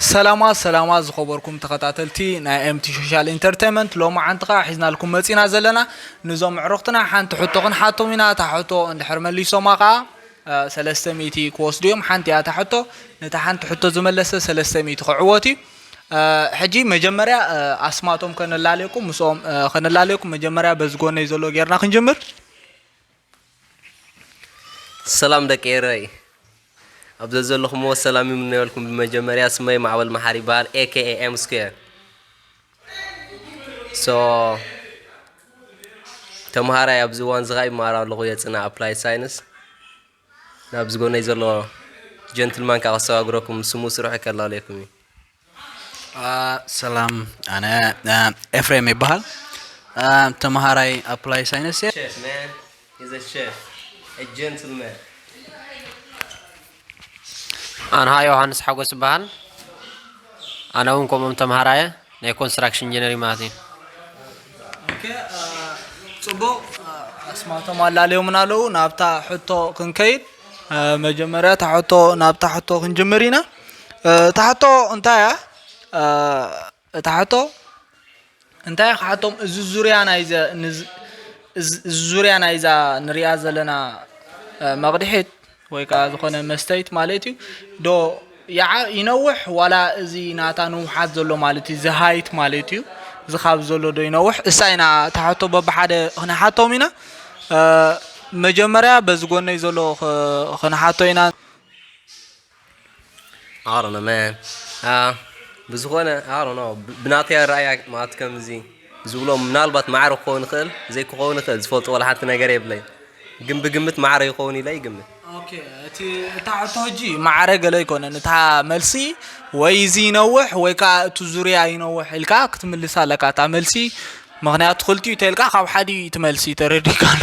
ሰላማት ሰላማት ዝኸበርኩም ተኸታተልቲ ናይ ኤምቲ ሾሻል ኢንተርተይመንት ሎማዓንቲ ከኣ ሒዝናልኩም መጺና ዘለና ንዞም ኣዕሩኽትና ሓንቲ ሕቶ ክንሓቶም ኢና እታ ሕቶ እንድሕር መሊሶማ ከኣ ሰለስተ ሚእቲ ክወስዱ እዮም ሓንቲ እያ እታ ሕቶ ነታ ሓንቲ ሕቶ ዝመለሰ ሰለስተ ሚእቲ ክዕወት እዩ ሕጂ መጀመርያ ኣስማቶም ከነላለየኩም ምስኦም ከነላለየኩም መጀመርያ በዚ ጎነይ ዘሎ ጌርና ክንጅምር ሰላም ደቂ ኤረይ ኣብ ዘዘለኹምዎ ሰላም ይምነየልኩም። ብመጀመርያ ስመይ ማዕበል መሓሪ ይበሃል ኤኬኤ ኤም ስኩዌር ሶ ተምሃራይ ኣብዚ እዋን እዚ ከዓ ይመሃር ኣለኹ የፅና ኣፕላይድ ሳይንስ ናብ ዝጎነይ ዘሎ ጀንትልማን ከዓ ከሰጋግረኩም ስሙ ስርሑ ይከላለየኩም እዩ ሰላም ኣነ ኤፍሬም ይበሃል ተምሃራይ ኣፕላይ ሳይንስ እየ Chef, man. He's a chef. A gentleman. ኣንሃ ዮሃንስ ሓጎስ ይበሃል ኣነ እውን ከምኦም ተምሃራየ ናይ ኮንስትራክሽን ኢንጂነሪ ማለት እዩ ፅቡቕ ኣስማቶም ኣላለዮምን ኣለዉ ናብታ ሕቶ ክንከይድ መጀመርያ እታ ሕቶ ናብታ ሕቶ ክንጅምር ኢና እታ ሕቶ እንታይ እያ እታ ሕቶ እንታይ ክሓቶም እዚ ዙርያ ናይ ዙርያ ናይዛ ንሪኣ ዘለና መቕድሒት ወይ ከዓ ዝኾነ መስተይት ማለት እዩ ዶ ይነውሕ ዋላ እዚ ናታ ንውሓት ዘሎ ማለት እዩ ዝሃይት ማለት እዩ እዚ ካብ ዘሎ ዶ ይነውሕ እሳ ኢና ታሓቶ በብሓደ ክንሓቶም ኢና መጀመርያ በዚ ጎነይ ዘሎ ክንሓቶ ኢና I don't know man. Uh, ብዝኾነ I don't know ብናተይ ኣረኣያ ማለት ከምዚ ዝብሎ ምናልባት ማዕረ ክኸውን ይኽእል ዘይክኸውን ይኽእል ዝፈልጦ ዋላ ሓንቲ ነገር የብለይ ግን ብግምት ማዕረ ይኸውን ኢለ ይግምት ኦኬ እቲ እታ ሕቶ ሕጂ ማዕረ ገለ ኣይኮነን እታ መልሲ ወይ እዚ ይነውሕ ወይ ከዓ እቲ ዙርያ ይነውሕ ኢልካ ክትምልስ ኣለካ እታ መልሲ ምክንያቱ ክልቲኡ ተልካ ካብ ሓዲ እዩ እቲ መልሲ ተረዲካ ኣሎ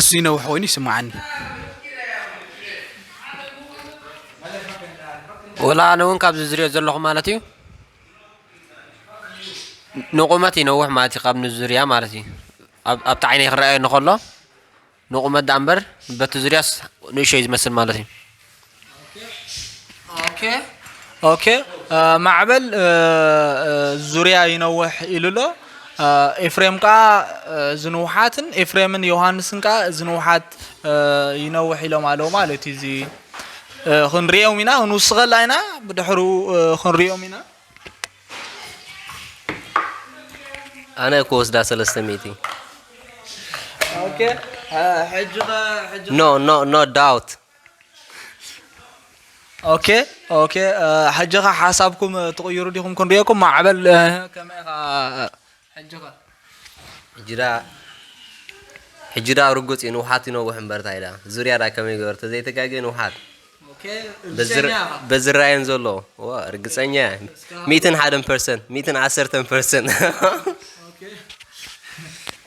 እሱ ይነውሕ ኮይኑ ይስምዓኒ። ወላ ኣነ እውን ካብዚ ዝሪኦ ዘለኹ ማለት እዩ ንቑመት ይነውሕ ማለት እዩ ካብ ንዙርያ ማለት እዩ ኣብቲ ዓይነይ ክረኣየ ንከሎ ንቑመት ደኣ እምበር በቲ ዙርያስ ንእሾ እዩ ዝመስል ማለት እዩ ማዕበል ዙርያ ይነውሕ ኢሉ ኣሎ ኤፍሬም ከዓ ዝንውሓትን ኤፍሬምን ዮሃንስን ከዓ ዝንውሓት ይነውሕ ኢሎም ኣለዉ ማለት እዩ እዚ ክንሪኦም ኢና ክንውስኸላ ኢና ብድሕሩ ክንሪኦም ኢና ኣነ ክወስዳ ሰለስተ ሚእቲ ኖ ኖ ኖ ዳውት ኦኬ ኦኬ ሕጂ ከ ሓሳብኩም ትቕይሩ ዲኹም ክንሪኦኩም ማዕበል ከመይ ኢኻ ሕጂ ከ ሕጂ ደኣ ሕጂ ደኣ ርጉጽ እዩ ንውሓት ይነውሕ እምበር እንታይ ደኣ ዙርያ ደኣ ከመይ ገበር ተዘይተጋገ ንውሓት በዝራየን ዘሎ ርግፀኛ ሚእትን ሓደን ፐርሰንት ሚእትን ዓሰርተን ፐርሰንት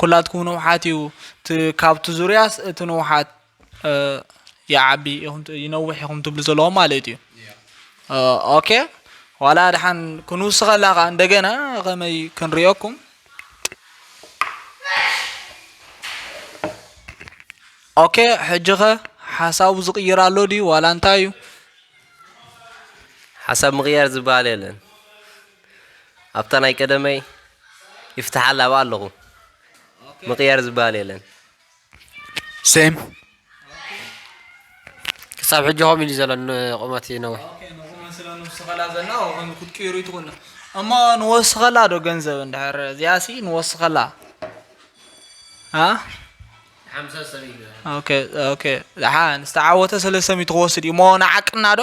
ኩላትኩም ንውሓት እዩ እቲ ካብቲ ዙርያስ እቲ ንውሓት ይዓቢ ኢኹም ይነውሕ ኢኹም ትብሉ ዘለኹም ማለት እዩ ኦኬ ዋላ ድሓን ክንውስኸላ ከዓ እንደገና ከመይ ክንሪኦኩም ኦኬ ሕጂ ኸ ሓሳቡ ዝቕይር ኣሎ ድዩ ዋላ እንታይ እዩ ሓሳብ ምቕያር ዝበሃል የለን ኣብታ ናይ ቀደመይ ይፍትሓላ ኣብኣ ኣለኹ ምቕያር ዝበሃል የለን ሴም ክሳብ ሕጂ ከምኡ ኢሉ ዘሎ ቁመት ይነውሕ ንወስኸላ ዘና ክትቅይሩ ይትኹን እሞ ንወስኸላ ዶ ገንዘብ እንድሕር እዚኣሲ ንወስኸላ ኦኬ ዝተዓወተ ሰለስተ ሚእቲ ክወስድ እዩ እሞ ንዓቅና ዶ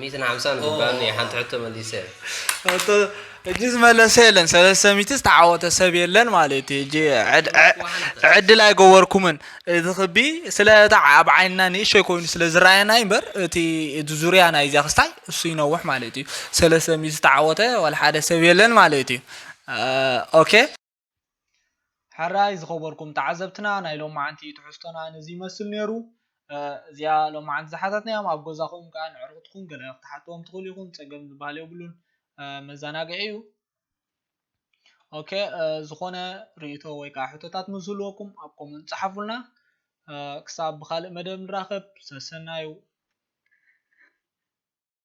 ሚትን ሓምሳን ዝበሃል ሓንቲ ሕቶ መሊሰ ሕቶ እጂ ዝመለሰ የለን ሰለስተ ሚቲ ዝተዓወተ ሰብ የለን ማለት እዩ እጂ ዕድል ኣይገበርኩምን እዚ ክቢ ስለ ኣብ ዓይንና ንእሸይ ኮይኑ ስለ ዝረኣየና እምበር እቲ እቲ ዙርያ ናይዚያ ክስታይ እሱ ይነውሕ ማለት እዩ ሰለስተ ሚቲ ዝተዓወተ ዋላ ሓደ ሰብ የለን ማለት እዩ ኦኬ ሕራይ ዝኸበርኩም ተዓዘብትና ናይ ሎማዓንቲ ትሕዝቶና ነዚ ይመስል ነይሩ። እዚኣ ሎማዓንቲ ዝሓታትናዮም ኣብ ገዛኹም ከዓ ንዕርኽትኩም ገለ ክትሓትዎም ትኽእሉ ኢኹም ፀገም ዝበሃል የብሉን መዘናግዒ እዩ። ኦኬ ዝኾነ ርእይቶ ወይ ከዓ ሕቶታት ምስ ዝህልወኩም ኣብ ኮመንት ፀሓፉልና። ክሳብ ብካልእ መደብ ንራኸብ ሰሰናዩ